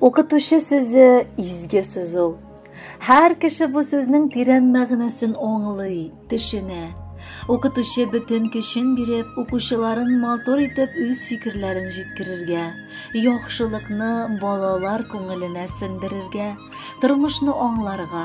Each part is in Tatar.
Укытучы сүзе изге сүз ул. Һәр кеше бу сүзнең тирән мәгънәсен аңлый, төшенә. Укытучы бөтен көчен биреп, укучыларын матур итеп үз фикерләрен җиткерергә, яхшылыкны балалар күңеленә сеңдерергә, тормышны аңларга,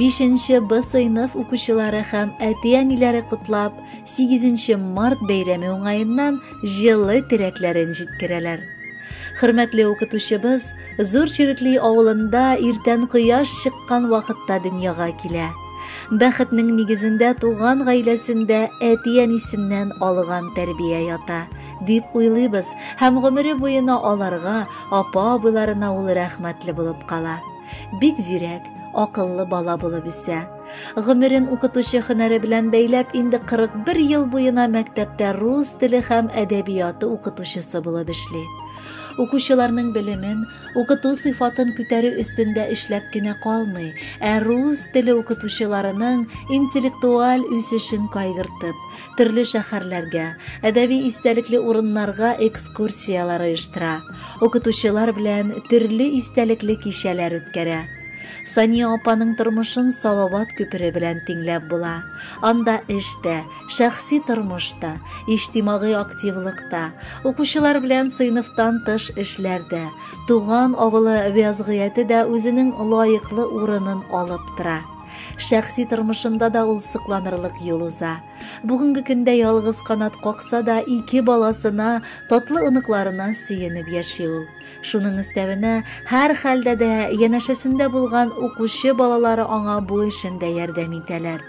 5нче Б сыйныф укучылары һәм әти-әниләре котлап, 8нче март бәйрәме уңаеннан җылы теләкләрен җиткерәләр. Хөрмәтле укытучыбыз Зур Чирекли авылында иртән кояш чыккан вакытта дөньяга килә. Бәхетнең нигезендә туган гаиләсендә әти-әнисеннән алган тәрбия ята, дип уйлыйбыз һәм гомере буена аларга, апа-абыйларына ул рәхмәтле булып кала. Бик зирәк, акыллы бала булып үсә. Гомерен укытучы һөнәре белән бәйләп, инде 41 ел буена мәктәптә рус теле һәм әдәбияты укытучысы булып эшли. Укучыларның белемен, укыту сыйфатын күтәрү өстендә эшләп кенә калмый, ә рус теле укытучыларының интеллектуаль үсешен кайгыртып, төрле шәһәрләргә, әдәби истәлекле урыннарга экскурсияләр оештыра, укытучылар белән төрле истәлекле кичәләр үткәрә. Сания апаның тормышын Салават күпере белән тиңләп була. Анда эш тә, шәхси тормыш та, иҗтимагый активлык та, укучылар белән сыйныфтан тыш эшләр дә, туган авылы вязгыяте дә үзенең лаеклы урынын алып тора. Шәхси тормышында да ул сокланырлык юл уза. Бүгенге көндә ялгыз канат какса да, ике баласына, татлы оныкларына сөенеп яши ул. Шуның өстәвенә, һәр хәлдә дә янәшәсендә булган укучы балалары аңа бу эшендә ярдәм итәләр.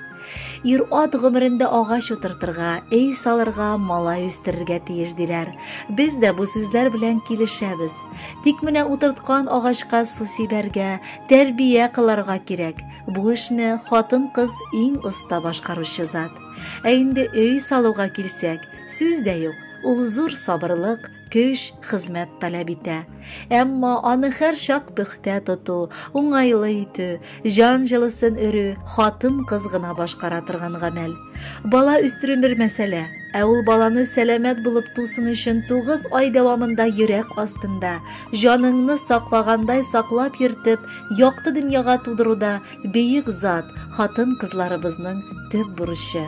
Ир-ат гомерендә агач утыртырга, өй салырга, малай үстерергә тиеш, диләр. Без дә бу сүзләр белән килешәбез. Тик менә утырткан агачка су сибәргә, тәрбия кыларга кирәк. Бу эшне хатын-кыз иң оста башкаручы зат. Ә инде өй салуга килсәк, сүз дә юк. Ул зур сабырлык, көч, хезмәт таләп итә. Әмма аны һәр чак пөхтә тоту, уңайлы итү, Җан җылысын өрү хатын-кыз гына башкара торган гамәл. Бала үстерү бер мәсьәлә, ә ул баланы сәламәт булып тусын өчен 9 ай дәвамында йөрәк астында, җаныңны саклагандай саклап йөртеп, якты дөньяга тудыруда бөек зат, хатын-кызларыбызның төп бурычы.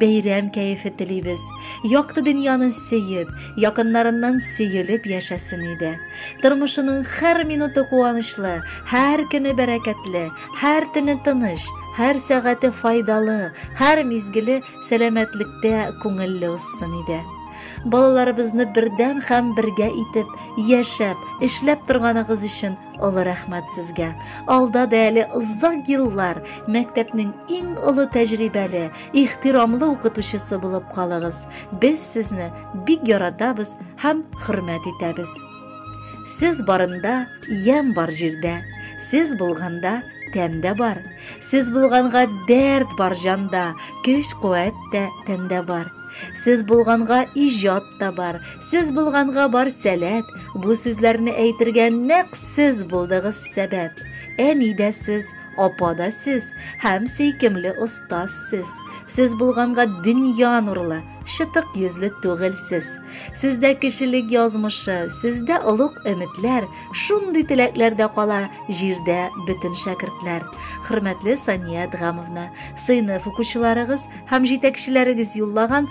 бәйрәм кәефе телибез. Якты дөньяны сөеп, якыннарыннан сөелеп яшәсен иде. Тормышының һәр минуты куанычлы, һәр көне бәрәкәтле, һәр төне тыныч, һәр сәгате файдалы, һәр мизгеле сәламәтлектә күңелле узсын иде. Балаларыбызны бердәм һәм бергә итеп яшәп, эшләп торганыгыз өчен Олы рәхмәт сезгә. Алда да әле озак еллар мәктәпнең иң олы тәҗрибәле, ихтирамлы укытучысы булып калыгыз. Без сезне бик яратабыз һәм хөрмәт итәбез. Сез барында ямь бар җирдә, сез булганда тәм дә бар. Сез булганга дәрт бар җанда, көч-куәт тә тәндә бар. Сез булганга иҗат та бар, Сез булганга бар сәләт, бу сүзләрне әйтергә нәкъ сез булдыгыз сәбәп. Әни дә сез, апа да сез һәм сөйкемле остаз сез. Сез булганга дөнья нурлы, шытык йөзле түгел сез. Сездә кешелек язмышы, сездә олуг өметләр, шундый теләкләр дә кала җирдә бөтен шәкертләр. Хөрмәтле Сания Адгамовна, сыйныф укучыларыгыз һәм җитәкчеләрегез юллаган